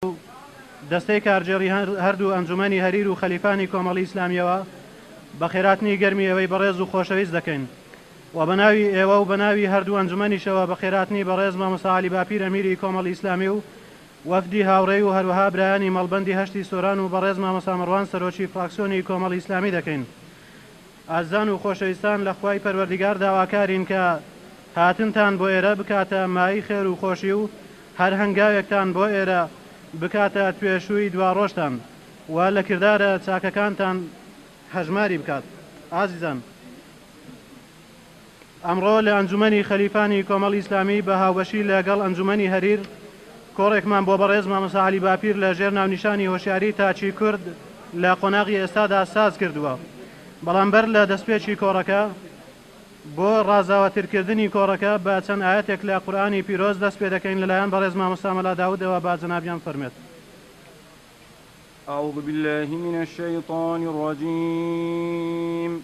و دەستەی کارگێڕی هەردوو ئەنجومەنی هەریر و خەلیفانی کۆمەڵی ئیسلامیەوە بە خێراتنی گەرمی ئێوەی بەڕێز و خۆشەویست دەکەین و بە ناوی ئێوە و بە ناوی هەردوو ئەنجومەنیشەوە بە خێراتنی بەڕێز مامۆستا عەلی باپیر ئەمیری کۆمەڵی ئیسلامی و وەفدی هاوڕێی و هەروەها برایانی مەڵبەندی هەشتی سۆران و بەڕێز مامۆستا مەڕوان سەرۆکی فراکسیۆنی کۆمەڵی ئیسلامی دەکەین. ئازیزان و خۆشەویستان لە خوای پەروەردیگار داواکارین کە هاتنتان بۆ ئێرە بکاتە مایەی خێر و خۆشی و هەر هەنگاوێکتان بۆ ئێرە بکاتە توێشووی دواڕۆژتان و لە کردارە چاکەکانتان هەژماری بکات ئازیزان. ئەمڕۆ لە ئەنجومەنی خەلیفانی کۆمەڵی ئیسلامی بە هاوبەشی لە گەڵ ئەنجومەنی هەریر کۆڕێکمان بۆ بەڕێز مامۆستا عەلی باپیر لە ژێر ناونیشانی هۆشیاری تاکی کورد لە قۆناغی ئێستادا ساز کردووە بەڵام بەر لە دەستپێکی کۆڕەکە بۆ ڕازاوەترکردنی کۆڕەکە بە چەند ئایەتێک لە قورئانی پیرۆز دەست پێ دەکەین لە لایەن بەڕێز مامۆستا مەلا داودەوە با جەنابیان فەرمێت. أعوذ بالله من الشيطان الرجيم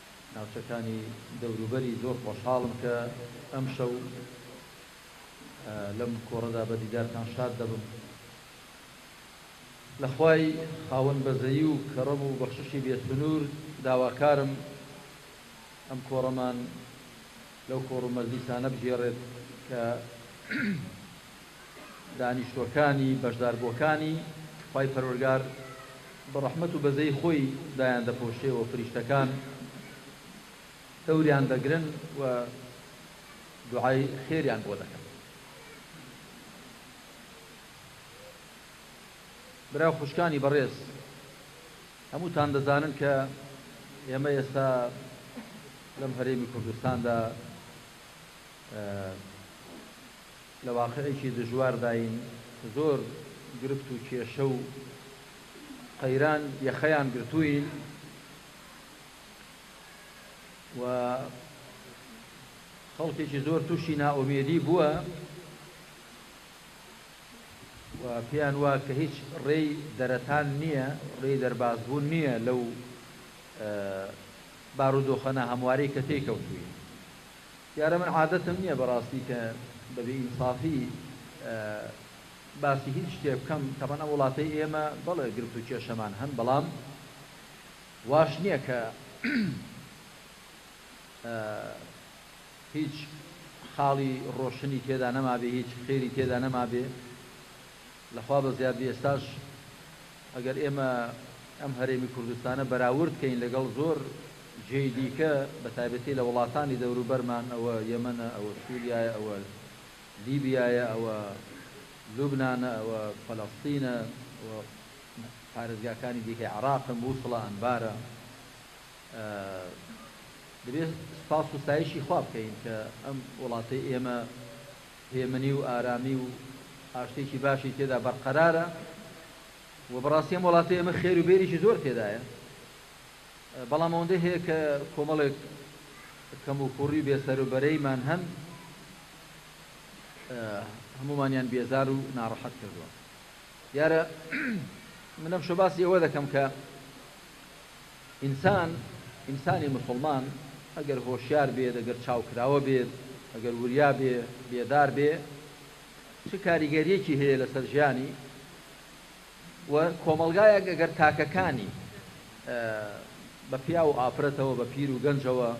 ناوچەکانی دەوروبەری زۆر خۆشحاڵم کە ئەمشەو لەم کۆڕەدا بە دیدارتان شاد دەبم لە خوای خاوەن بەزەیی و کەڕەم و بەخششی بێ سنوور داواکارم ئەم کۆڕەمان لەو کۆڕ و مەجلیسانە بگێڕێت کە دانیشتووەکانی بەشداربووەکانی، خوای پەروەرگار بە ڕەحمەت و بەزەی خۆی دایان دەپۆشێ و فریشتەکان دەوریان دەگرن و دوعای خێریان بۆ دەکەن. برا و خوشکانی بەڕێز، هەمووتان دەزانن کە ئێمە ئێستا لەم هەرێمی کوردستاندا، لە واقعێکی دژوارداین، زۆر گرفت و کێشە و قەیران یەخەیان گرتووین و خەڵکێکی زۆر تووشی نائومێدی بووە و پێیان وا کە هیچ ڕێی دەرەتان نییە، ڕێی دەربازبوون نییە لەو بارودۆخە ناهەموارەی کە تێی کەوتووین. دیارە من عادەتم نیە بەڕاستی کە بە بێ ئینسافی باسی هیچ شتێ بکەم تەبەن ئەم وڵاتەی ئێمە بەڵێ گرفت و کێشەمان هەن بەڵام واش نیە کە هیچ خاڵی ڕۆشنی تێدا نەمابێ هیچ خێری تێدا نەمابێ. لە خوا بەزیاد بێ ئێستاش ئەگەر ئێمە ئەم هەرێمی کوردستانە بەراورد کەین لەگەڵ زۆر جێی دیکە بە تایبەتی لە وڵاتانی دەوروبەرمان ئەوە یەمەنە ئەوە سوریایە ئەوە لیبیایە ئەوە لوبنانە ئەوە فەلەستینە ئەوە پارێزگاکانی دیکەی عێراقن موسڵە ئەنبارە دەبێت سوپاس و ستایشی خوا بکەین کە ئەم وڵاتەی ئێمە هێمنی و ئارامی و ئاشتێکی باشی تێدا بەرقەرارە و بەڕاستی ئەم وڵاتەی ئێمە خێر و بێریی زۆر تێدایە بەڵام ئەوەندەی هەیە کە کۆمەڵێک کەموکوڕی و بێسەر و بەرەیمان هەن هەمومانیان بێزار و ناڕەحەت کردووە دیارە من ئەمشەو باسی ئەوە دەکەم کە ئینسان، ئینسانی موسڵمان، ئەگەر هۆشیار بێت، ئەگەر چاوکراوە بێت، ئەگەر وریا بێ، بێدار بێ، چ کاریگەرییەکی هەیە لەسەر ژیانی و کۆمەڵگایەک ئەگەر تاکەکانی بە پیاو و ئافرەتەوە، بە پیر و گەنجەوە،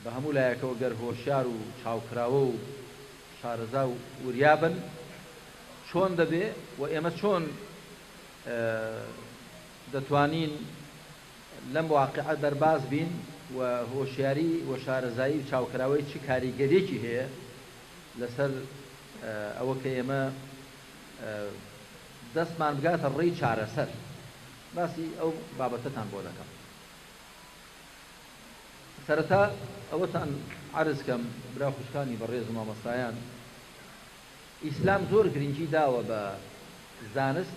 بە هەموو لایەکەوە گەر هۆشیار و چاوکراوە و شارەزا و وریا بن چۆن دەبێ و ئێمە چۆن دەتوانین لەم واقیعە دەرباز بین و هۆشیاری و شارەزایی و چاوکراوەی چ کاریگەریەکی هەیە لەسەر ئەوە کە ئێمە دەستمان بگاتە ڕێی چارەسەر باسی ئەو بابەتەتان بۆ دەکەم سەرەتا ئەوەتان عرض کەم برا خوشکانی بەڕێز و مامەستایان ئیسلام زۆر گرنگی داوە بە زانست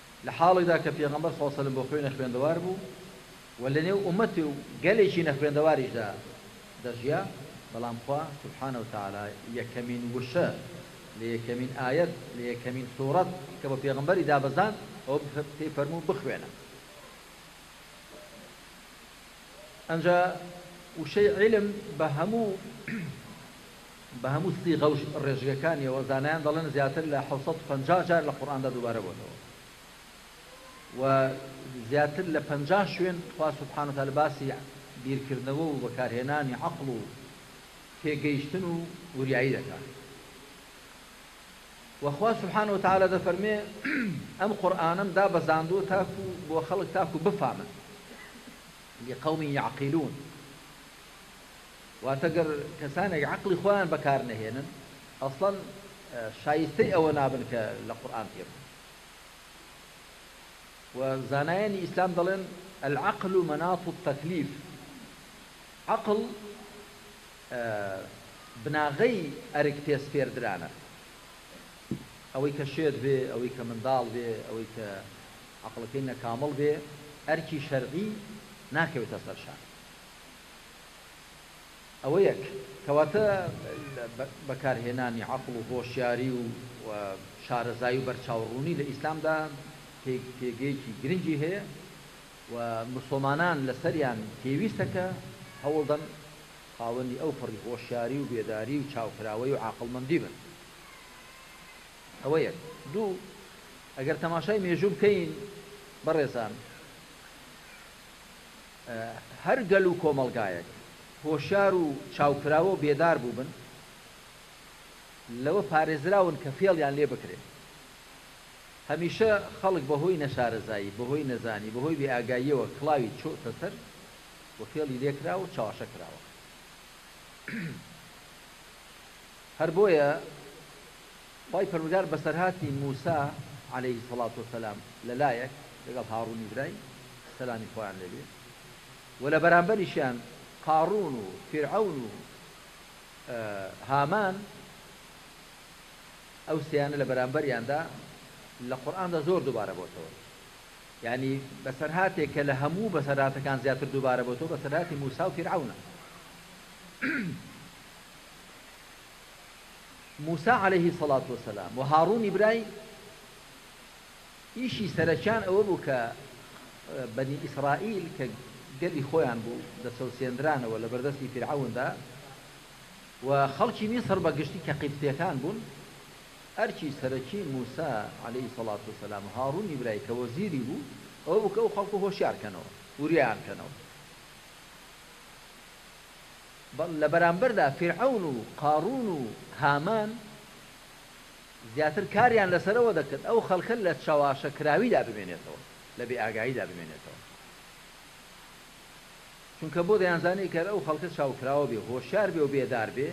لە حاڵێکدا کە پێغەمبەر سڵاو سەلم بۆ خۆی نەخوێندەوار بوو و لە نێو ئومەت و گەلێکی نەخوێندەواریشدا دەژیا بەڵام خوا سبحانە وتعالی یەکەمین وشە لە یەکەمین ئایەت لە یەکەمین سوڕەت کە بۆ پێغەمبەری دابەزاند ئەوە پێی فەرموو بخوێنە ئەنجا وشەی عیلم بە هەموو بە هەموو سیغە و ڕێژگەکانیەوە زانایان دەڵێن زیاتر لە حەوت سەد و پەنجا جار لە قورئاندا دووبارە بۆتەوە و زیاتر لە پەنجا شوێن خوا سبحانە وتعالی باسی بیرکردنەوە و بەکارهێنانی عەقڵ و تێگەیشتن و وریایی دەکات وە خوا سبحانە وتعالی دەفەرموێ ئەم قورئانەم دابەزاندووە تاکو بۆ خەڵک تاکو بفامن لقوم یعقلون واتە گەر کەسانێک عەقڵی خۆیان بەکار نەهێنن ئەسڵەن شایستەی ئەوە نابن کە لە قورئان تێ بگەن و زانایانی ئیسلام دەڵێن العقل مناط التکلیف عقل بناغەی ئەرک پێ سپێردرانە. ئەوەی کە شێت بێ، ئەوەی کە منداڵ بێ، ئەوەی کە عەقڵەکەی نەکامڵ بێ، ئەرکی شەرعی ناکەوێتە سەر شان. ئەوە یەک. کەواتە بەکارهێنانی عەقڵ و هۆشیاری و شارەزایی و بەرچاوڕوونی لە ئیسلامدا پێگەیەکی گرنگی هەیە. و موسڵمانان لەسەریان پێویستە کە هەوڵدەن خاوەنی ئەو پەڕی هۆشیاری و بێداری و چاوکراوەی و عاقڵمەندی بن. ئەوە یەک. دوو، ئەگەر تەماشای مێژوو بکەین بەڕێزان، هەر گەل و کۆمەڵگایەک هۆشیار و چاوکراوە و بێدار بووبن، لەوە پارێزراون کە فێڵیان لێ بکرێ. هەمیشە خەڵک بە هۆی نەشارەزایی، بە هۆی نەزانی، بە هۆی بێ ئاگاییەوە کڵاوی چۆتە سەر و فێڵی لێ کراوە و چەواشە کراوە. هەر بۆیە خوای پەروەردگار بەسەرهاتی موسا، علیە الصلوة والسلام، لە لایەک، لەگەڵ هاڕونی برای، سەلامی خوایان لێ بێ، و لە بەرامبەریشیان قاڕون و فیرعەون و هامان، ئەو سێیانە لە بەرامبەریاندا لە قورئاندا زۆر دووبارە بۆتەوە یانی بەسەرهاتێک کە لە هەموو بەسەرهاتەکان زیاتر دووبارە بۆتەوە بەسەرهاتی موسا و فیرعەونە موسا عليه سەڵات وسلام و هاڕونی برای ئیشی سەرەکیان ئەوە بوو کە بەنی ئیسرائیل کە گەلی خۆیان بوو دەچەوسێنرانەوە لە بەردەستی فیرعەوندا و خەڵکی میسڕ بە گشتی کە قیبتیەکان بوون، ئەرکی سەرەکی موسا، علیە الصلوة والسلام، و هاڕونی برای کە وەزیری بوو، ئەوە بوو کە ئەو خەڵکە هۆشیار کەنەوە، وریایان کەنەوە. بەڵ لە بەرامبەردا فیرعەون و قاڕوون و هامان زیاتر کاریان لەسەر ئەوە دەکرد ئەو خەڵکە لە چەواشەکراویدا بمێنێتەوە، لە بێئاگاییدا بمێنێتەوە. چونکە بۆ دەیانزانی ئەگەر ئەو خەڵکە چاوکراوە بێ و هۆشیار بێ و بێدار بێ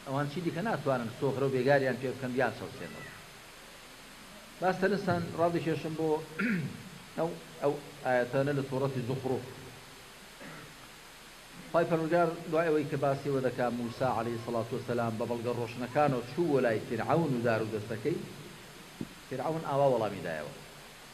ئەوان چی دیکە ناتوانن سۆغرە و بێگاریان پێ بکەن بیان چەوسێنەوە باس تەنستان ڕادکێشم بۆ ئەو ئەو ئاەتانە لە سۆڕەتی زوخڕوف خی پەرگار دوای ئەوەی کە باسیەوە دەکا موسا عليه سلاات وسلام بە بەڵگە ڕۆشنەکانەوە چوو وەلای فرعون و دار و دەستەکەی فرعون ئاوا وەڵامی دایەوە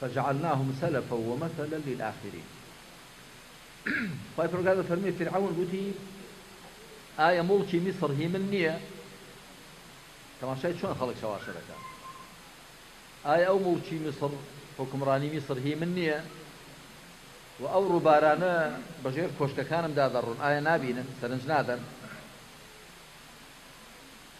فجعلناهم سلفا ومثلا للاخرین خوای پەروەردگار دەفەرموێ فیرعەون گوتی ئایا موڵکی میسڕ هی من نییە تەماشای چۆن خەڵک چەواشە دەکات ئایا ئەو موڵکی میسڕ حکومڕانی میسڕ هی من نییە و ئەو ڕووبارانە بەژێر کۆشکەکانم دادەڕون ئایا نابینن سەرنج نادەن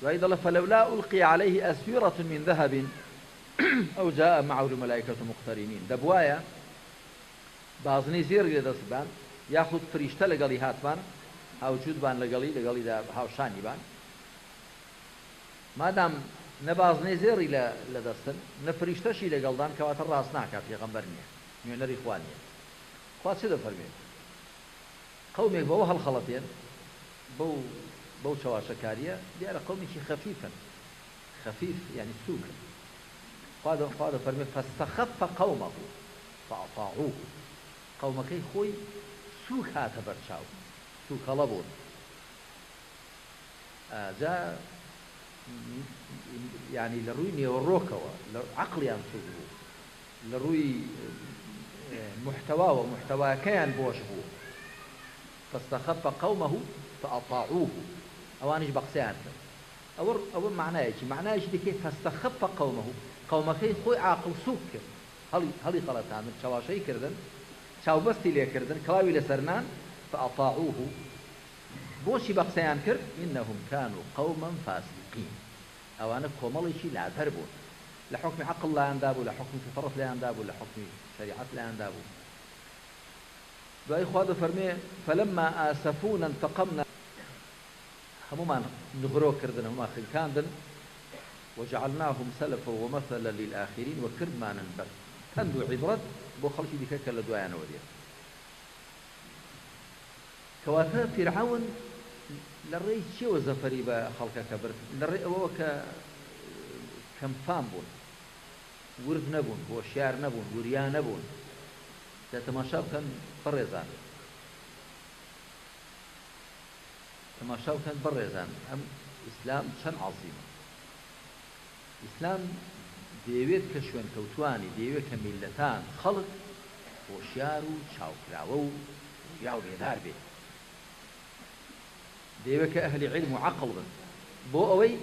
دوایی دەڵێ، فلولا القی علیه اسورة من ذهب او جاء معه الملائکة مقترنین، دەبوایە بازنەی زێڕی لە دەست ببان، یاخود فریشتە لەگەڵی هاتبان، هاوجووت بان لەگەڵی، لەگەڵیدا هاوشانی بان، مادام نە بازنەی زێڕی لە دەستن، نە فریشتەشی لەگەڵدان، کەواتە ڕاست ناکا پێغەمبەر نییە، نوێنەری خوا نییە. خوا چ دەفەرموێت؟ قەومێک بەوە هەڵخەڵەتێن، بەو بەو چەواشەکارییە، دیارە قەومێکی خەفیفن، خەفیف یانی سووکن. خوا دە خوا دەفەرموێ، فاستخف قومه فاطاعوه، قەومەکەی خۆی سووک هاتە بەر چاو، تووکەڵە بوون. ئا جا یانی لە ڕووی نێوەڕۆکەوە لە عەقڵیان سووک بوو. لە ڕووی موحتەواوە موحتەواکەیان بۆش بوو، فاستخف قومه فاطاعوه ئەوانیش بە قسەیان کرد ئەوە ئەوە مەعنایەکی مەعنایەکی دیکەی فاستخف قومه قومەکەی خۆی عاقڵ سووک کرد هەڵی هەڵی خەڵەتاندن چەواشەی کردن چاوبەستی لێ کردن کڵاوی لەسەر نان فاطاعوه بۆچی بە قسەیان کرد انهم کانوا قوما فاسقین ئەوانە کۆمەڵێکی لادەر بوون لە حوکمی عەقڵ لایان دابوو لە حوکمی فیتڕەت لێیان دابوو لە حوکمی شەریعەت لایان دابوو دوایی خوا دەفەرموێ فلما آسفونا انتقمنا هەموومان نغرۆ کردن هەموومان خنکاندن وجعلناهم سلفا ومثلا للآخرین و کردمانن بە پەند و عیبرەت بۆ خەڵکی دیکە کە لە دوایانەوە دێن کەواتە فیرعەون لە ڕێی چییەوە زەفەری بە خەڵکەکە برد؟ لە ڕێی ئەوەوە کە کەمفام بوون، ورد نەبوون، هۆشیار نەبوون، وریا نەبوون. جا تەماشا بکەن بەڕێزان، تەماشا بکەن بەڕێزان، ئەم ئیسلام چەند عەزیمە! ئیسلام دەیەوێت کە شوێنکەوتووانی، دەیەوێت کە میللەتان، خەڵک، هۆشیار و چاوکراوە و ووریا و بێدار بێت. دەیەوێت کە ئەهلی عیلم و عەقڵ بن. بۆ ئەوەی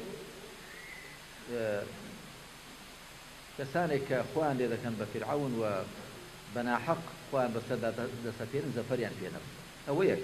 کەسانێک کە خۆیان لێ دەکەن بە فیرعەون و بە ناحەق خۆیان بەسەردا دەسەپێنن زەفەریان پێ نەبن. ئەوە یەک.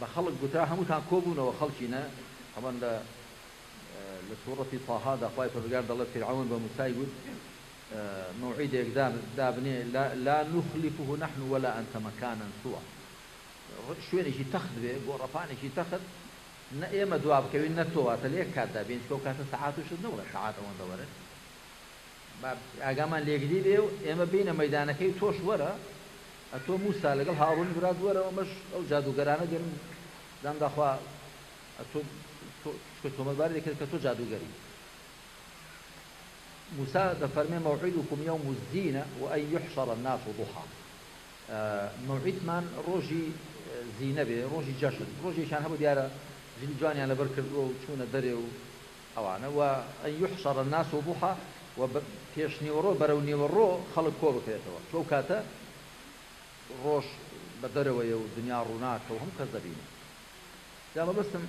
بە خەڵک گوتا، هەمووتان کۆ بوونەوە خەڵکی نە هەمەن لە لە سورەتی طه دا خوای پەروەردگار دەڵێت، فیرعەون بە موسای گوت، مەوعیدێک دا دابنێ، لا لا نخلفه نحن ولا انت مکانا سوا، شوێنێکی تەخت بێ، گۆڕەپانێکی تەخت، نە ئێمە دوا بکەوین نە تۆ، واتە لە یەک کات دا بێین، چونکە ئەو کاتە سەعات و شت نەبوو، سەعات ئەوەندە وەرن با ئاگامان لێگری بێ و ئێمە بێینە مەیدانەکەی و تۆش وەرە، ئەتۆ موسا لەگەڵ هاڕونی برات وەرە ئەمەش ئەو جادووگەرانە دێن دان داخوا ئەتۆ چکە تۆمەتباری دەکرد کە تۆ جادووگەری موسا دەفەرمێ مەوعیدکم یوم الزینە و ئەی یحشر الناس ضحا مەوعیدمان ڕۆژی زینە بێ ڕۆژی جەشن ڕۆژێکیان هەبوو دیارە جلی جوانیان لەبەر کردووە و چوونە دەرێ و ئەوانە، و ان یحشر الناس ضحی، و پێشنیوەڕۆ بەرەو نیوەڕۆ خەڵک کۆبکرێتەوە، چون ئەو کاتە ڕۆژ بە دەرەوەیە و دنیا ڕووناکە و هەموو کەس دەبینێ. جا مەبەستم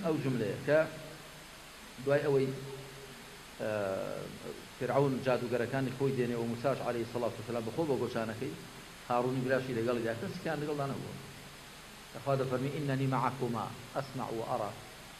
ئەو جوملەیە کە دوای ئەوەی فیرعەون جادووگەرەکانی خۆی دێنێ و موساش علیە الصلوة والسلام بەخۆ بۆ گۆچانەکەی، هاڕونی براشی لەگەڵی دا، کەسیکیان لەگەڵدا نەبووە. کە خوا دەفەرمی، اننی معکما اسمع و ارا،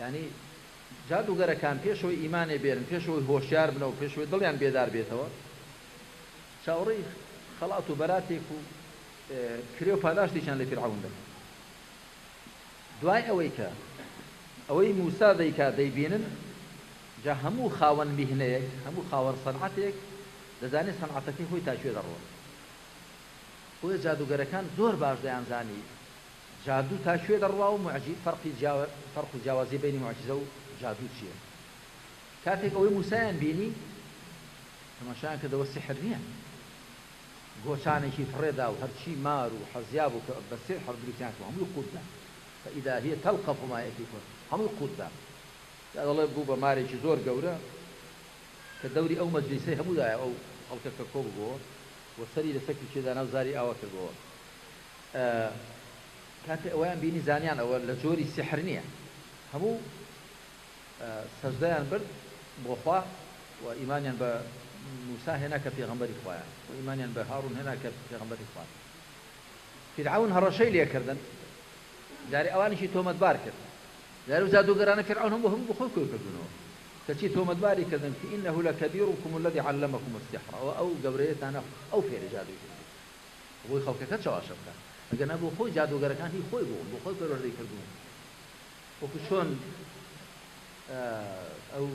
یانی جادووگەرەکان پێش ئەوەی ئیمانێ بێنن، پێش ئەوەی هۆشیار بنەوە، پێش ئەوەی دڵیان بێدار بێتەوە، چاوەڕێی خەڵات و بەراتێک و کرێ و پاداشتێکیان لە فیرعەون دەکەن. دوای ئەوەی کە ئەوەی مووسا دەیکات دەیبینن، جا هەموو خاوەن میهنەیەک، هەموو خاوەن سەنعەتێک دەزانێ سەنعەتەکەی خۆی تا کوێ دەڕوات. بۆیە جادووگەرەکان زۆر باش دەیانزانی جادوو تا کوێ دەڕوا و موعجی فەرقی جیاوە فەرق و جیاوازی بەینی موعجیزە و جادوو چییە؟ کاتێک ئەوەی موسایان بینی تەماشایان کردەوە سیحر نییە گۆچانێکی فڕێ دا و هەرچی مار و حەزیا بوو کە بە سیحر بریتیان کردبوو هەمووی قووت دا فإذا هی تلقف ما یفیکون هەمووی قووت دا جا دەڵێ بوو بە مارێکی زۆر گەورە کە دەوری ئەو مەجلیسەی هەموو دایە ئەو خەڵکە کە کۆ ببۆوە و سەری لەسەر کلکێ دانا و زاری ئاوا کردبۆوە کاتێ ئەوەیان بینی زانیان ئەوە لە جۆری سیحر نیە هەموو سەجدەیان برد بۆ خوا و ئیمانیان بە موسا هێنا کە پێغەمبەری خوایە و ئیمانیان بە هارون هێنا کە پێغەمبەری خوا فیرعەون هەڕەشەی لێکردن جارێ ئەوانیشی تۆمەتبار کرد جارو جادوگەرانە فیرعەون هەموو هەموو بخۆی کۆی کردنەوە کەچی تۆمەتباری کردن فی انه لکبیرکم الذی علمکم السحر ئەو گەورەیەتانە ئەو فێری جادوی کرد بۆی خەڵکەکەت چەواشە بکات ئەگەرنا بۆ خۆی جادووگەرەکان هی خۆی بوون بۆ خۆی پەروەردەی کردوون وەکو چۆن ئەو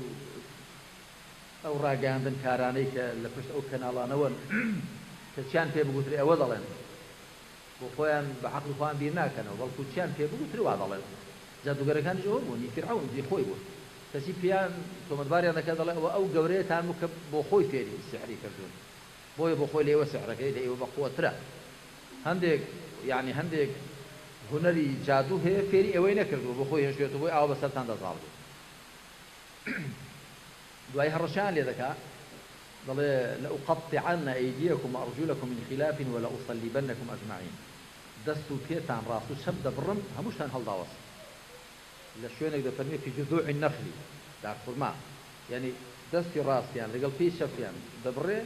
ئەو ڕاگەیاندن کارانەی کە لە پشت ئەو کەناڵانەوەن کە چیان پێ بگوترێ ئەوە دەڵێن بۆ خۆیان بە عەقڵی خۆیان بیر ناکەنەوە بەڵکو چیان پێ بگوترێ وا دەڵێن جادووگەرەکانیش ئەوە بوون هی فیرعەون هی خۆی بوون کەچی پێیان تۆمەتباریان دەکرد دەڵێ ئەوە ئەو گەورەیەتان بوو کە بۆ خۆی فێری سیحری کردوون بۆیە بۆخۆی لێوە سحرەکەی لە ئێوە بەقوە ترە هەندێک یانی هەندێک هونەری جادوو هەیە فێری ئێوەی نەکردووە بۆخۆی هێشتوێتە بۆی ئاوا بەسەرتاندا زاڵ بێت دوای هەڕەشەیان لێ دەکا دەڵێ لەئوقەتعەن ئەیدیەکم وئەڕجولەکم من خلاف ولەئوصلیبنکم اجمعین دەست و پێتان ڕاست و چەپ دەبڕم هەمووشتان هەڵداوەسن. لە شوێنێک دەفەرموێ فی جذوع النخل دار خورما یانی دەستی ڕاستیان لەگەڵ پێی چەپیان دەبڕێ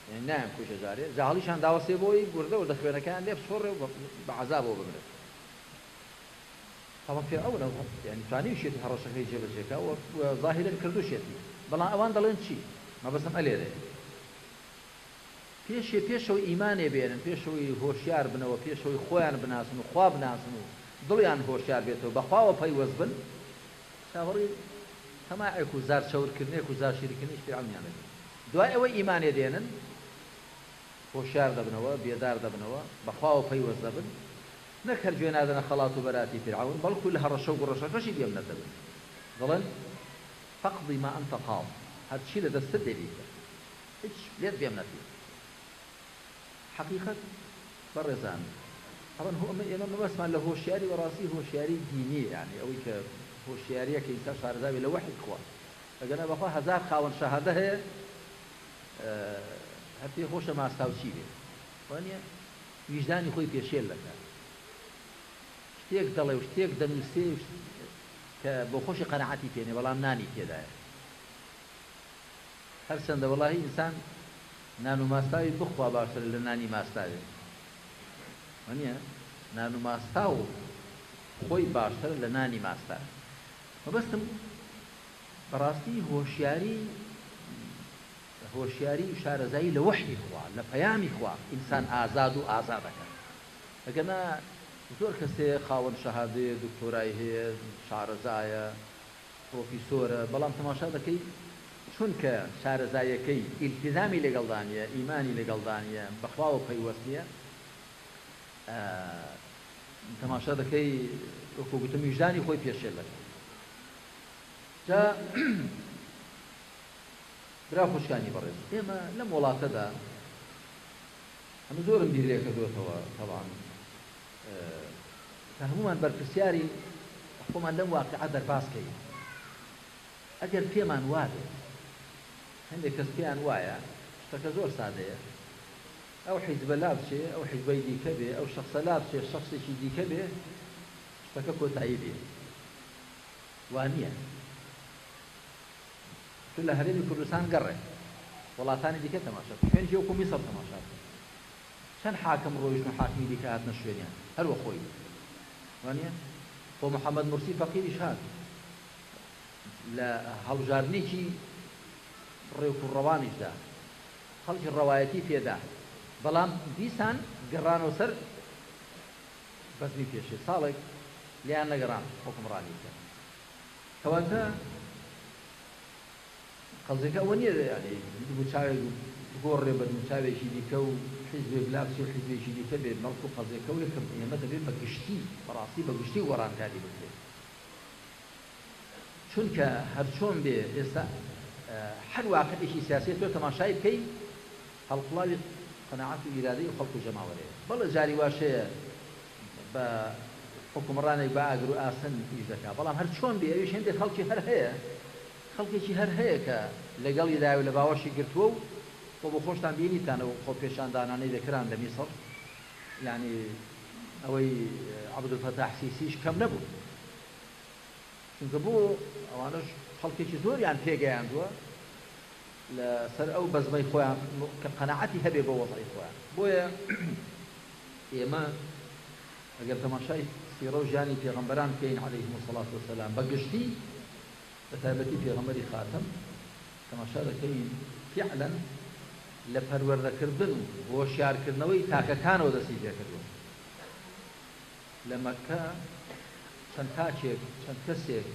یانی نایان کوژێ جارێ جا هەڵیشان داوەسێ بۆی وردە وردە خوێنەکەیان لێ بسوڕێ و بە عەزابەوە بمرن تاوەک فیرعەون یانی توانیوشێتی هەڕەشەکەی جێ بەجێ کا و زاهیرەن کردوشێتی بەڵام ئەوان دەڵێن چی مەبەستم ئەلێرەیە. پێشێ پێشەوە ئیمانێ بێنن، پێشەوەی هۆشیار بنەوە، پێشەوەی خۆیان بناسن و خوا بناسن و دڵیان هۆشیار بێتەوە، بە خواوە پەیوەست بن، چاوەڕی تەماعێک و زار چەورکردنێک و زار شیرکردنیش پێ عەونیان دەبێ. دوای ئەوەی ئیمانێ دێنن، هۆشیار دەبنەوە، بێدار دەبنەوە، بە خواوە پەیوەست دەبن، نەک هەر گوێ نادەنە خەڵات و بەراتی فیرعەون، بەڵکوو لە هەڕەشە و گوڕەشەکەشی گوێ بنەتەبن. دەڵێن، فاقضی ما انت قاض، هەرچی لە دەستت دێ بیکە. هیچ لێت بێم نەکرد حەقیقەت بەڕێزان ئەڵێن هۆ ئەمە ئێمە مەبەستمان لە هۆشیاری بەڕاستی هۆشیاری دینیە یانی ئەوەی کە هۆشیاریە کە ئینسان شارەزابێ لە وەحی خوا ئەگەنا بەخوا هەزار خاوەن شەهادە هەیە هەر پێ خۆشە ماستاوچی بێ وانە ویژدانی خۆی پێشێل دەکات شتێک دەڵێ و شتێک دەنووسێ کە بۆ خۆشی قەنەعەتی پێنێ بەڵام نانی تێدایە هەرچەندە وەڵاهی ئینسان نان و ماستاوی بخوا باشترە لە نانی ماستاوێ وەنیە نان و ماستاو خۆی باشترە لە نانی ماستاوێ مەبەستم بەڕاستی هۆشیاری هۆشیاری و شارەزایی لە وەحی خوا لە پەیامی خوا ئینسان ئازاد و ئازادەکە ئەگەنا زۆر کەسێ خاوەن شەهادەیە دکتۆرای هەیە شارەزایە پڕۆفیسۆرە بەڵام تەماشا دەکەی چونکە شارەزایەکەی ئیلتیزامی لەگەڵدا نیە ئیمانی لەگەڵدا نیە بەخواوە پەیوەست نیە تەماشا دەکەی وەکو گوتم ویژدانی خۆی پێشێل دەکات جا برا خوشکانی بەڕێز ئێمە لەم وڵاتەدا ئەمە زۆرم بیر لێکردوەتەوە تەوان کە هەموومان بەرپرسیارین خۆمان لەم واقیعە دەرباز کەین ئەگەر پێمان وابێت هەندێک کەس پێیان وایە شتەکە زۆر سادەیە ئەو حیزبە لابچێ ئەو حیزبەی دیکە بێ ئەو شخصە لابچێ شخصێکی دیکە بێ شتەکە کۆتایی دێ وانە تو لە هەرێمی کوردستان گەڕێ وڵاتانی دیکە تەماشا خوێنی وەکو میسر تەماشا چەند حاکم ڕۆیشتن و حاکمی دیکە هاتنە شوێنیان هەر وە خۆی وانیە خۆ محمد مرسی فەقیریش هات لە هەڵبژاردنێکی ڕێک و ڕەوانیشدا خەڵکی ڕەوایەتی پێدا بەڵام دیسان گەڕانەوە سەر بەزمی پێشێ ساڵێک لیان نەگەڕان حکومڕانی بکەن کەواتە قەزیەکە ئەوە نیە یانی دموچاوێک بگۆڕێ بە دموچاوێکی دیکە و حیزبێک لابچێ و حیزبێکی دیکە بێ بەڵکو قەزیەکە ئەوەیە کە ئێمە دەبێ بە گشتی بەڕاستی بە گشتی گۆڕانکاری بکرێ چونکە هەرچۆن بێ ئێستا هەر واقعێکی سیاسیە تۆ تەماشای بکەی هەڵقوڵاوی قەناعەت و ئیرادەی خەڵک و جەماوەرێ بەڵێ جاری واشەیە بە حوکمڕانێک بە ئاگر و ئاسن ئیش دەکا، بەڵام هەر چۆن بێ ئەویش هێندێک خەڵکی هەر هەیە، خەڵکێکی هەر هەیە کە لەگەڵیدایە و لە باوەشی گرتووە و وە بۆ خۆشتان بینیتان ئەو خۆپێشاندانانەی دەکران لە میسڕ یانی ئەوەی عەبدولفەتاح سیسیش کەم نەبوو چونکە بۆ ئەوانەش خەڵکێکی زۆریان پێگەیاندووە لە سەر ئەو بەزمەی خۆیان کە قەناعەتی هەبێ بۆ وەزعی خۆیان بۆیە ئێمە ئەگەر تەماشای سیڕە و ژیانی پێغەمبەران بکەین علیهم الصلوة و سلام بە گشتی بە تایبەتی پێغەمبەری خاتەم تەماشا دەکەین فعلا لە پەروەردەکردن و هۆشیارکردنەوەی تاکەکانەوە دەستی پێکردووە لە مەککە چەند تاکێک چەند کەسێک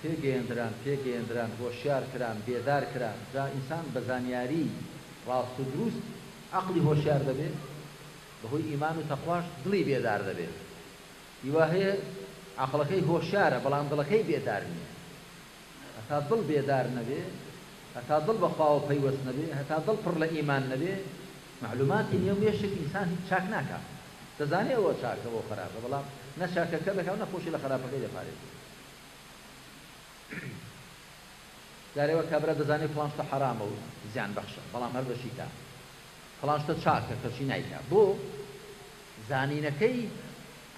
پێگەیەندران، پێگەیەندران، هۆشیار کران، بێدار کران، جا ئینسان بە زانیاری ڕاست و دروست عەقڵی هۆشیار دەبێ، بە هۆی ئیمان و تەقواش دڵی بێدار دەبێ. ئی وا هەیە عەقڵەکەی هۆشیارە بەڵام دڵەکەی بێدار نییە. هەتا دڵ بێدار نەبێ، هەتا دڵ بە خواوە پەیوەست نەبێ، هەتا دڵ پڕ لە ئیمان نەبێ، مەعلووماتی نێو مێشک ئینسان هیچ چاک ناکا. دەزانێ ئەوە چاکە و ئەوە خەراپە بەڵام نە چاکەکە دەکا و نە خۆشی لە خەراپەکەی دەپارێزێ. جارێ وە کابرا دەزانێ فڵان شتە حەرامە و زیان بەخشە بەڵام هەر دەشی کا فڵان شتە چاکە کەچی نایکا بۆ زانینەکەی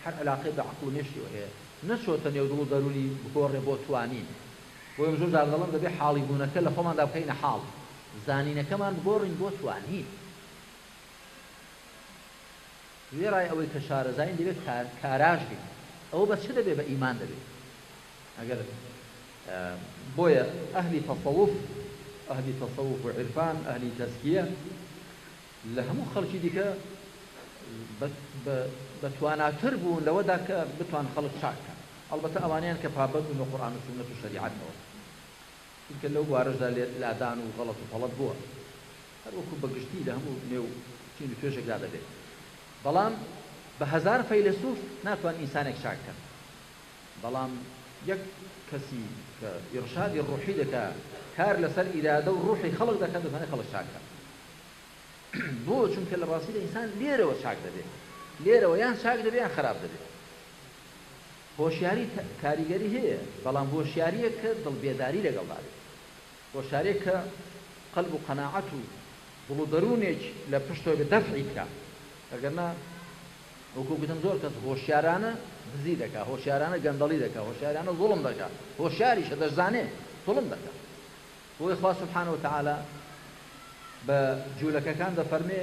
هەر علاقەی بە عەقڵ و مێشکیەوە هەیە نەچۆتە نێو دڵ و دەرونی بگۆڕێ بۆ توانین بۆ ئێمە زۆر جار دەڵێم دەبێ حاڵی بوونەکە لە خۆماندا بکەینە حاڵ زانینەکەمان بگۆڕین بۆ توانین وێڕای ئەوەی کە شارەزاین دەبێت کاراش بین ئەوە بە چ دەبێت بە ئیمان دەبێت ئەگەر بۆیە ئەهلی تەسەوف ئەهلی تەسەوف و عیرفان ئەهلی تەسکیە لە هەموو خەڵکی دیکە بە تواناتر بوون لەوەدا کە بتوان خەڵک چاک کەن ئەڵبەتە ئەوانەیان کە پابەند بە قورآن و سونەت و شەریعەتەوە چونکە لەو بوارەشدا لادان و غەڵەت و پەڵەت بووە هەروەکو بە گشتی لە هەموو نێو چین و توێژێکدا دەبێت، بەڵام بە هەزار فەیلەسوف ناتوان ئینسانێک چاک کەن، بەڵام یەک کەسی کە ئیرشادی ڕوحی دەکا کار لەسەر ئیرادە و ڕوحی خەڵک دەکا دەتوانێ خەڵک چاک کات. بۆ؟ چونکە لە ڕاستیدا ئینسان لێرەوە چاک دەبێ، لێرەوە یان چاک دەبێ یان خەراپ دەبێ. هۆشیاری کاریگەری هەیە، بەڵام هۆشیارییەک کە دڵ بێداری لەگەڵدا بێت. و شارێک کە قەلب و قەناعەت و دڵ و دەروونێک لە پشتەوە بێت دەفعی بکا ئەگەر نا وەکو گوتم زۆر کەس هۆشیارانە دزی دەکا هۆشیارانە گەندەڵی دەکا هۆشیارانە زوڵم دەکا هۆشیاریشە دەشزانێ زوڵم دەکا بۆیە خوا سبحانە وتعالی بە جوولەکەکان دەفەرمێ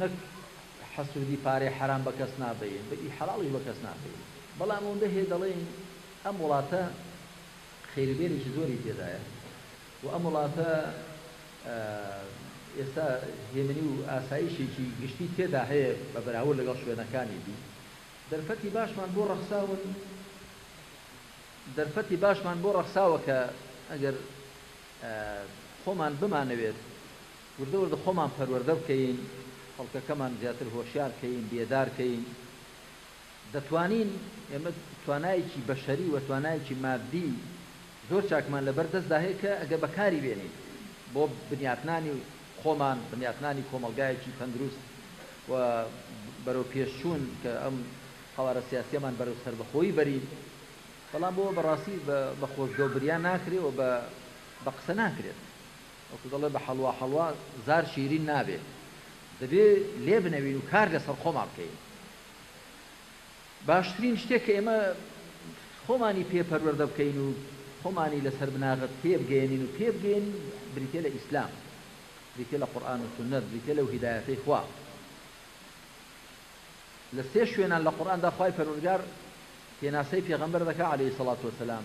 نەک حەسودی پارەی حەرام بە کەس نابەین بە ی حەڵاڵیش بە کەس نابەین بەڵام ئەوەندە هەیە دەڵێین ئەم وڵاتە خێرو بێرێکی زۆری تێدایە و ئەم وڵاتە ئێستا هێمنی و ئاسایشێکی گشتی تێدا هەیە بە بەراورد لەگەڵ شوێنەکانی دی دەرفەتی باشمان بۆ ڕەخساون دەرفەتی باشمان بۆ ڕەخساوە کە ئەگەر خۆمان بمانەوێت وردە وردە خۆمان پەروەردە بکەین خەڵکەکەمان زیاتر هۆشیار کەین بێدار کەین دەتوانین ئێمە توانایەکی بەشەری وە توانایەکی مادی زۆر چاکمان لەبەر دەستدا هەیە کە ئەگەر بەکاری بێنین بۆ بنیاتنانی خۆمان بنیاتنانی کۆمەڵگایەکی تەندروست وە بەرەو پێشچوون کە ئەم قەوارە سیاسیەمان بەرەو سەربەخۆیی بەرین بەڵام بۆ بەڕاستی بە خۆزگەو بریا ناکرێ وە بە قسە ناکرێت. وەکو دەڵێ بە حەڵوا حەڵوا زار شیرین نابێ دەبێ لێ بنەوین و کار لەسەر خۆمان بکەین باشترین شتێک کە ئێمە خۆمانی پێ پەروەردە بکەین و خۆمانی لەسەر بناغە تێبگەێنین و پێبگەێنین بریتە لە ئیسلام بریتە لە قورآن و سنت بریتە لەو هیدایەتەی خوا لە سێ شوێنان لە قورآاندا خی پەرورگار پێناسەی پێغەمبەر دەکە عليه سڵات وسلام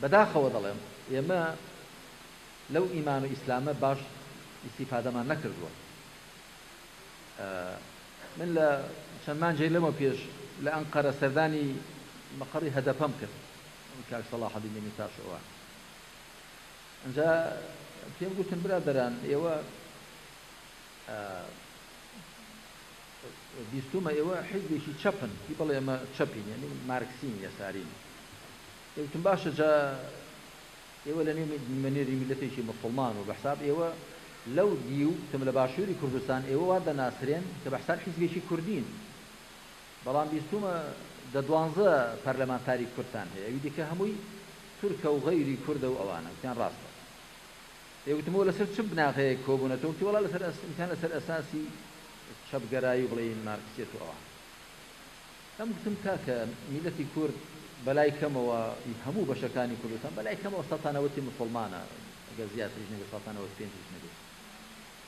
بەداخەوە دەڵێم ئێمە لەو ئیمان و ئیسلامە باش ئیستیفادەمان نەکردووە من لە چەند مانجێ لەمە پێش لە ئەنقەرە سەردانی مەقەڕی هەدەپەم کرد کاک سەڵاحەدین دەمیرتاش ئەوە ئەجا پێم گوتن برادەران ئێوە بیستوومە ئێوە حیزبێکی چەپن، هی بەڵێ ئێمە چەپین یانی مارکسین یەسارین. ئێ وتم باشە جا ئێوە لە نێو نوێنەری میللەتێکی موسڵمان و بە حساب ئێوە لەو دیو وتم لە باشووری کوردستان ئێوە وا دەناسرێن کە بە حساب حیزبێکی کوردین. بەڵام بیستوومە دە دوانزە پەرلەمانتاری کوردتان هەیە ئەوی دیکە هەمووی تورکە و غەیری کوردە و ئەوانە. وتیان ڕاستە. ئێ وتم ئەوە لەسەر چ بناغەیەک کۆبوونەتەوە؟ وتی وەڵا لەسەر ئەس وتیان لەسەر ئەساسی چەپگەرایی و بڵێین مارکسیەت و ئەوان ئەم گوتم کاکە میلەتی کورد بەلای کەمەوە ی هەموو بەشەکانی کوردستان بەلای کەمەوە سەتا نەوەتی موسڵمانە گەر زیاتریش نەبێت سەتا نەوەت پێنجیش نەبێت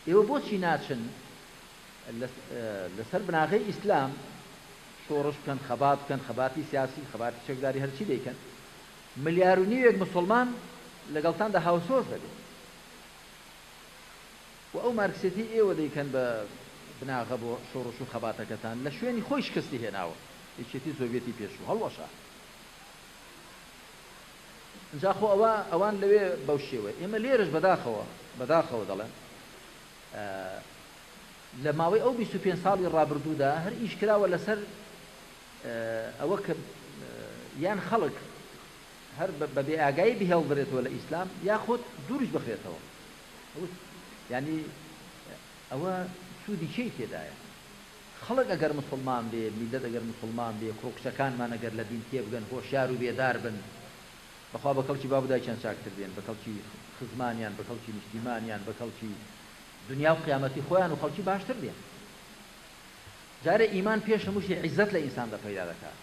ئێوە بۆچی ناچن لەسەر بناغەی ئیسلام شۆڕش بکەن خەبات بکەن خەباتی سیاسی خەباتی چەکداری هەرچی دەیکەن ملیار و نیوێک مسلمان لەگەڵتاندا هاوسۆز دەبێت و ئەو مارکسیەتەی ئێوە دەیکەن بە بناغە بۆ شۆڕش و خەباتەکەتان لە شوێنی خۆی شکستی هێناوە یەکێتی سۆڤیەتی پێشوو هەڵوەشا ئینجا خۆ ئەوە ئەوان لەوێ بەو شێوەیە ئێمە لێرەش بەداخەوە بەداخەوە دەڵێن لە ماوەی ئەو 25 ساڵی ڕابردوودا هەر ئیش کراوە لەسەر ئەوە کە یان خەڵک هەر بە بێئاگایی بهێڵدرێتەوە لە ئیسلام یاخود دوورش بخرێتەوە وت، یانی ئەوە سوودی چیی تێدایە؟ خەڵک ئەگەر موسڵمان بێ، میللەت ئەگەر موسڵمان بێ، کوڕ و کچەکانمان ئەگەر لە دین تێبگەن، هۆشیار و بێدار بن، بەخوا بە کەڵکی باب و دایکیان چاکتر دێن، بە کەڵکی خزمانیان، بە کەڵکی نیشتیمانیان، بە کەڵکی دنیا و قیامەتی خۆیان و خەڵکی باشتر دێن. جارێ ئیمان پێش هەموو شتێ عیزەت لە ئینساندا پەیدا دەکات.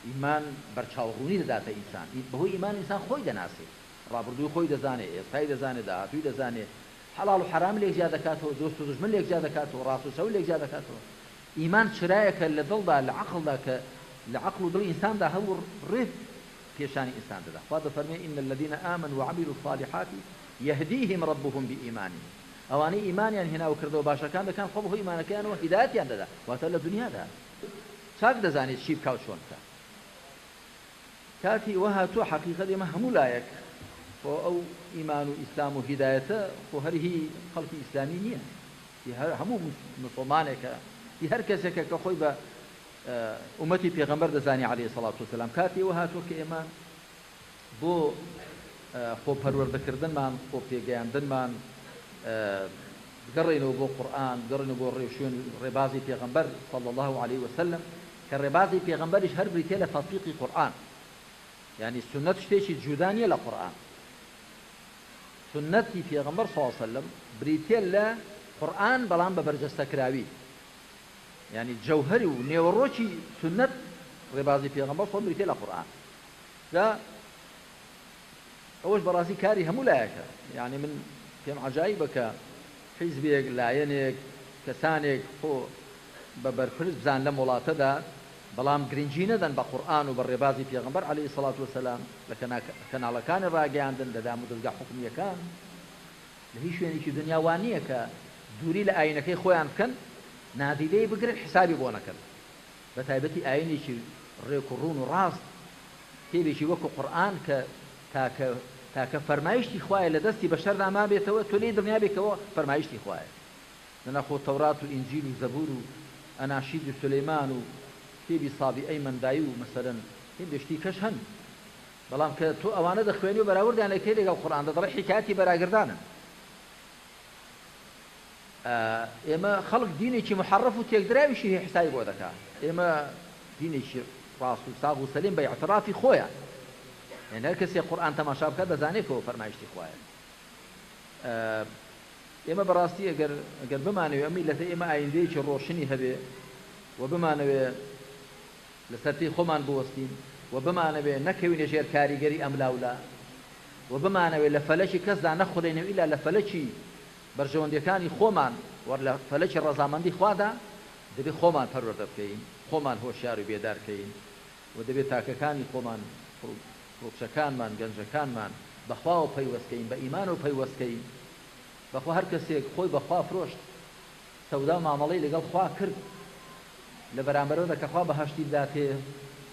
ئیمان بەرچاوڕوونی دەداتە ئینسان. بەهۆی ئیمان ئینسان خۆی دەناسێ. ڕابردووی خۆی دەزانێ، ئێستای دەزانێ، داهاتووی دەزانێ، حەڵاڵ و حەرام لێک جیا دەکاتەوە، دۆست و دوژمن لێک جیا دەکاتەوە، ڕاست و چەو لێک جیا دەکاتەوە. ئیمان چرایەکە لە دڵدا، لە عەقڵدا کە لە عەقڵ و دڵی ئینساندا هەبوو ڕێ پیشانی ئینسان دەدا. خوا دەفەرموێ، ان الذین آمنوا وعملوا الصالحات یهدیهم ربهم بإیمانهم ئەوانەی ئیمانیان هێنا و کردەوە باشەکان دەکەن خوا بەهۆی ئیمانەکەیانەوە هیدایەتیان دەدا واتە لە دونیادا چاک دەزانێ چی بکا و چۆن بکا. کاتی ئەوە هاتووە حەقیقەت ئێمە هەموو لایەک خۆ ئەو ئیمان و ئیسلام و هیدایەتە خۆ هەر هی خەڵکی ئیسلامی نییە هی هەر هەموو مسوڵمانێکە هی هەر کەسێکە کە خۆی بە ئومەتی پێغەمبەر دەزانی عەلەیهی سەڵات وسەلام کاتی ئەوە هاتووە کە ئێمە بۆ خۆپەروەردەکردنمان خۆ پێگەیاندنمان بگەڕێنەوە بۆ قورئان بگەڕێنەوە بۆ ڕێوشوێن ڕێبازی پێغەمبەر صلی الله علیه وسلم کە ڕێبازی پێغەمبەریش هەر بریتیە لە تەتبیقی قورئان یانی سوننەت شتێکی جودا نیە لە قورئان سوننەتی پێغەمبەر صلی اللە علیە و سەللەم بریتیە لە قورئان بەڵام بە بەرجەستەکراوی یانی جەوهەری و نێوەڕۆکی سوننەت ڕێبازی پێغەمبەر صلی بریتیە لە قورئان جا ئەوەش بەڕاستی کاری هەموو لایەکە یانی من پێم عەجایبە کە حیزبێک لایەنێک کەسانێک خۆ بە بەرپرس بزان لەم وڵاتەدا بەڵام گرنگی نەدەن بە قورئان و بە ڕێبازی پێغەمبەر علی سڵات وسلام لە کەناڵەکانی ڕاگەیاندن لە دام و دەزگا حکومیەکان لە هیچ شوێنێکی دنیا وا نییە کە دووری لە ئاینەکەی خۆیان بکەن نادیدەی بگرن حسابی بۆ نەکەن بەتایبەتی ئایینێکی ڕێک و ڕوون و ڕاست، کتێبێکی وەکو قورئان کە تاکە تاکە فەرمایشتی خوایە لە دەستی بەشەردا مابێتەوە تۆ لێی دڵنیابی کەوە فەرمایشتی خوایە دەنا خۆ تەورات و ئینجیل و زەبور و ئەناشیدی سولەیمان و کتێبی سابیئەی مەندای و مەسەلەن هێندێ شتی کەش هەن بەڵام کە تۆ ئەوانە دەخوێنی و بەراوردیان لەکەی لەگەڵ قورئاندا دەڵێی حیکایەتی بەراگردانن ئێمە خەڵک دینێکی محەڕەف و تێکدراویشی هەیە حسابی بۆ دەکا ئێمە دینێکی ڕاست و ساغ و سەلیم بە ئیعتڕافی خۆیە یان هەر کەسێک قورئان تەماشا بکات دەزانێت کە ئەوە فەرمایشتی خوایە ئێمە بەڕاستی ئەگەر ئەگەر بمانەوێ ئەم میلەتە ئێمە ئایندەیەکی ڕۆشنی هەبێ و بمانەوێ لەسەر پێی خۆمان بوەستین و بمانەوێ نەکەوینە ژێر کاریگەری ئەم لاولا و بمانەوێ لە فەلەکی کەسدا نەخورێنەوە ئیلا لە فەلەکی بەرژەوەندیەکانی خۆمان وە لە فەلەکی ڕەزامەندی خوادا دەبێت خۆمان پەروەردە بکەین خۆمان هۆشیار و بێدار کەین و دەبێت تاکەکانی خۆمان کوڕوکچەکانمان گەنجەکانمان بەخواوە پەیوەست کەین بە ئیمانەوە پەیوەست کەین بەخوا هەرکەسێک خۆی بەخوا فرۆشت سەودا و مامەڵەی لەگەڵ خوا کرد لە بەرامبەرەوەدا کە خوا بەهەشتی بداتێ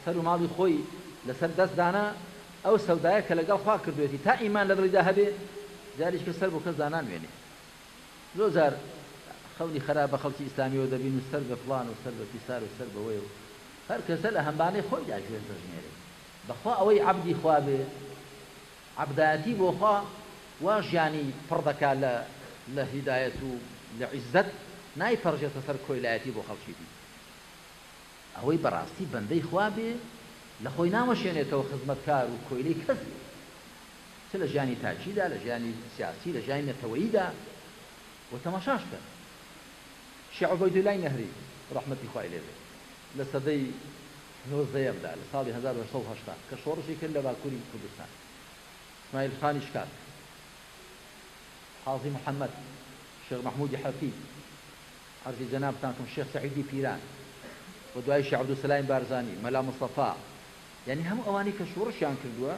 سەر و ماڵی خۆی لەسەر دەست دانا ئەو سەودایە کە لەگەڵ خوا کردوێتی تا ئیمان لە دڵیدا هەبێ جاریش کە سەر بۆ کەس دانانوێنێ زۆر جار خەونی خەراپ بە خەڵکی ئیسلامیەوە دەبین و سەر بە فڵان و سەر بە فیسار و سەر بەوەیە و هەر کەسە لە هەمبانەی خۆیدا گوێز دەژمێرێ بەخوا ئەوەی عەبدی خوا بێ عەبدایەتی بۆ خوا وا ژیانی پڕ دەکا لە لە هیدایەت و لە عیززەت نایپەرژێتە سەر کۆیلایەتی بۆ خەڵکی دی ئەوەی بەڕاستی بەندەی خوا بێ لە خۆی ناوەشێنێتەوە خزمەتکار و کۆیلەی کەس بێ چ لە ژیانی تاکی دا لە ژیانی سیاسی لە ژیانی نەتەوەیی دا و تەماشاش کەن شێخ عوبەیدولا ی نەهری ڕەحمەتی خوای لێ بێ لە سەدەی نۆزدەیەمدا لە ساڵی هەزار و هەشت سەد و هەشتا کە شۆڕشی کرد لە باکووری کوردستان سمایل خانی شکاک، قازی محەمەد، شێخ مەحموودی حەفی، عەرزی جەنابتانکم شێخ سەعیدی پیران و دوایی شێخ عەبدولسەلامی بارزانی، مەلا مستەفا، یانی هەموو ئەوانەی کە شۆڕشیان کردووە،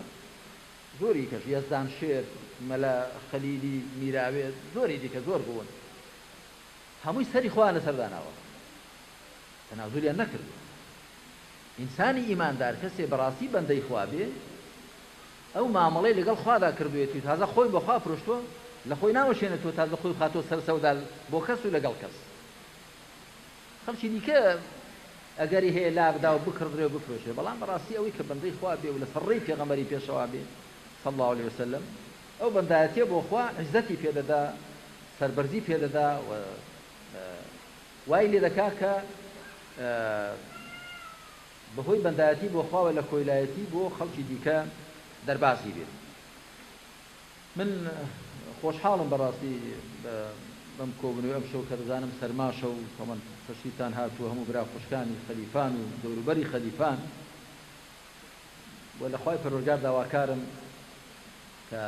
زۆری کەش، یەزدان شێر، مەلا خەلیلی میراوێ، زۆری دیکە زۆر بوون، هەمووی سەری خۆیان لەسەر داناوە. تەنازولیان نەکردوە ئینسانی ئیماندار کەسێ بەڕاستی بەندەی خوا بێ ئەو مامەڵەی لەگەڵ خوادا کردوێت و تازە خۆی بەخوا پرۆشتوە لە خۆی ناوەشێنێتەوە تازە خۆی خاتۆ سەر سەودا بۆ کەس و لەگەڵ کەس خەڵکی دیکە ئەگەری هەیە لابدا و بکڕدرێ و بفرۆشێ بەڵام بەڕاستی ئەوەی کە بەندەی خوا بێ و لە سەڕێی پێغەمەری پێشەوا بێ صلى الله عليه وسلم ئەو بەندایەتیە بۆخوا عزەتی پێدەدا سربەرزی پێدەدا و وای لێ دەکا کە بە هۆی بەندایەتی بۆ خوا و لە کۆیلایەتی بۆ خەڵکی دیکە دەربازی بێ. من خۆشحاڵم بە ڕاستی بەم کۆبوونەوەی ئەمشەو کە دەزانم سەرماشە و تەمەن پەشیوتان هاتووە هەموو برا خوشکانی خەلیفان و دەوروبەری خەلیفان و لە خوای پەروەرگار داواکارم کە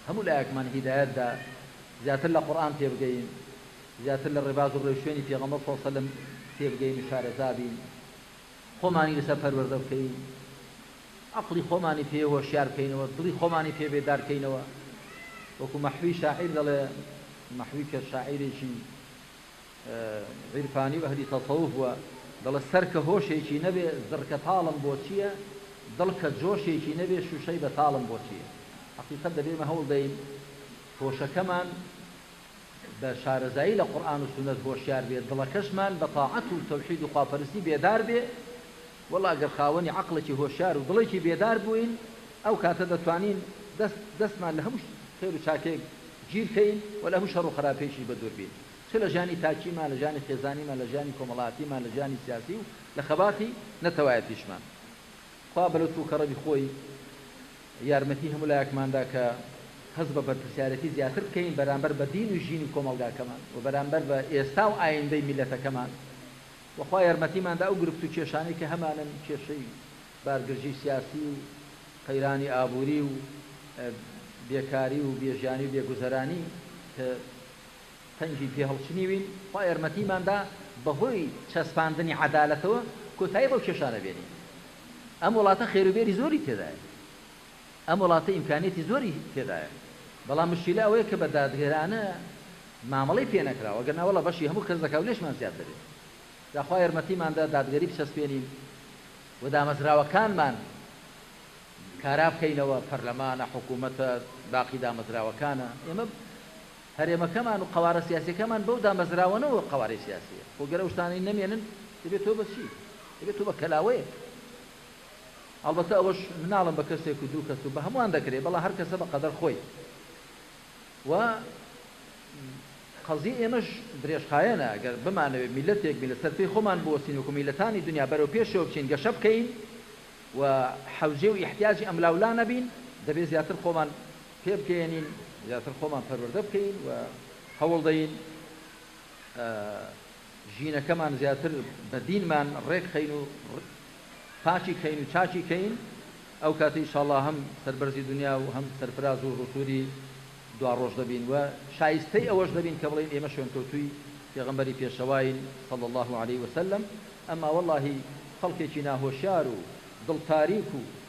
هەموو لایەکمان هیدایەت دا زیاتر لە قورئان تێبگەین، زیاتر لە ڕێباز و ڕێوشوێنی پێغەمبەر صلی سلم تێبگەین و شارەزا بین، خۆمانی لەسەر پەروەردە بکەین، عەقڵی خۆمانی پێ هۆشیار بکەینەوە، دڵی خۆمانی پێ بێدار کەینەوە، وەکو مەحوی شاعیر دەڵێ، مەحوی کە شاعیرێکی عیرفانی و ئەهلی تەسەوف بووە، دەڵێت، سەر کە هۆشێکی نەبێ، زڕکە تاڵم بۆ چییە؟ دڵ کە جۆشێکی نەبێ، شووشەی بەتاڵم بۆ چییە؟ هەقیقەت دەبێ ئێمە هەوڵ دەین هۆشەکەمان بە شارەزایی لە قورئان و سوننەت هۆشیار بێ، دڵەکەشمان بە تاعەت و تەوحید و خواپەرستی بێدار بێ، وەڵڵا گەر خاوەنی عەقڵێکی هۆشیار و دڵێکی بێدار بووین، ئەو کاتە دەتوانین دەست دەستمان لە هەموو خێر و چاکێک گیر کەین و لە هەموو شەڕ و خەراپێکیش بە دوور بین. چ لە ژیانی تاکیمان، لە ژیانی خێزانیمان، لە ژیانی کۆمەڵاتیمان، لە ژیانی سیاسی و لە خەباتی نەتەوایەتیشمان. خوا بە لوتف و کەڕەمی خۆی یارمەتی هەموو لایەکمان دا کە هەست بە بەرپرسیارێتی زیاتر بکەین بەرامبەر بە دین و ژینی کۆمەڵگاکەمان و بەرامبەر بە ئێستا و ئایندەی میللەتەکەمان و خوا یارمەتیمان دا ئەو گرفت و کێشانەی کە هەمانن کێشەی بارگرژی سیاسی و قەیرانی ئابووری و بێکاری و بێژیانی و بێگوزەرانی کە تەنگی پێ هەڵچنیوین، خوا یارمەتیمان دا بەهۆی چەسپاندنی عەدالەتەوە کۆتایی بەو کێشانە بێنین. ئەم وڵاتە خێروبێری زۆری تێدایە، ئەم وڵاتە ئیمکانیەتی زۆری تێدایە، بەڵام مشکیلە ئەوەیە کە بە دادگەرانە مامەڵەی پێ نەکراوە، گەر نا وەڵا بەشی هەموو کەس دەکا و لێشمان زیاد دەبێ. جا خوا یارمەتیمان دا دادگەری بچەسپێنین و دامەزراوەکانمان کارا بکەینەوە، پەرلەمانە، حکوومەتە، باقی دامەزراوەکانە، ئێمە هەرێمەکەمان و قەوارە سیاسیەکەمان بەو دامەزراوەنەوە قەوارەی سیاسیە خۆ گەر ئەوشتانەی نەمێنن دەبێت تۆ بەچی دەبێت تۆ بە کەلاوەیەک ئەڵبەتە ئەوەش مناڵم بە کەسێک و دوو کەس و بە هەمووان دەکرێت بەڵا هەر کەسە بە قەدەر خۆی و قەزیە ئێمەش درێژخایەنە گەر بمانەوێت میلەتێک بین لەسەر پێی خۆمان بوەستین وەکو میلەتانی دنیا بەرەو پێشەوە بچین گەشە بکەین و حەوجێ و ئیحتیاجی ئەملاولا نەبین دەبێت زیاتر خۆمان پێبگەیەنین زیاتر خۆمان پەروەردە بکەین و هەوڵدەین ژینەکەمان زیاتر بە دینمان ڕێک خەین و پاکی کەین و چاکی کەین ئەو کاتە ئیشاڵا هەم سەربەرزی دنیا و هەم سەرفراز و ڕسووری دوا ڕۆژ دەبین و شایستەی ئەوەش دەبین کە بڵێن ئێمە شوێنکەوتووی پێغەمبەری پێشەواین صلی الله علیه وسلم ئەما وەڵاهی خەڵکێکی ناهۆشیار و دڵ تاریک و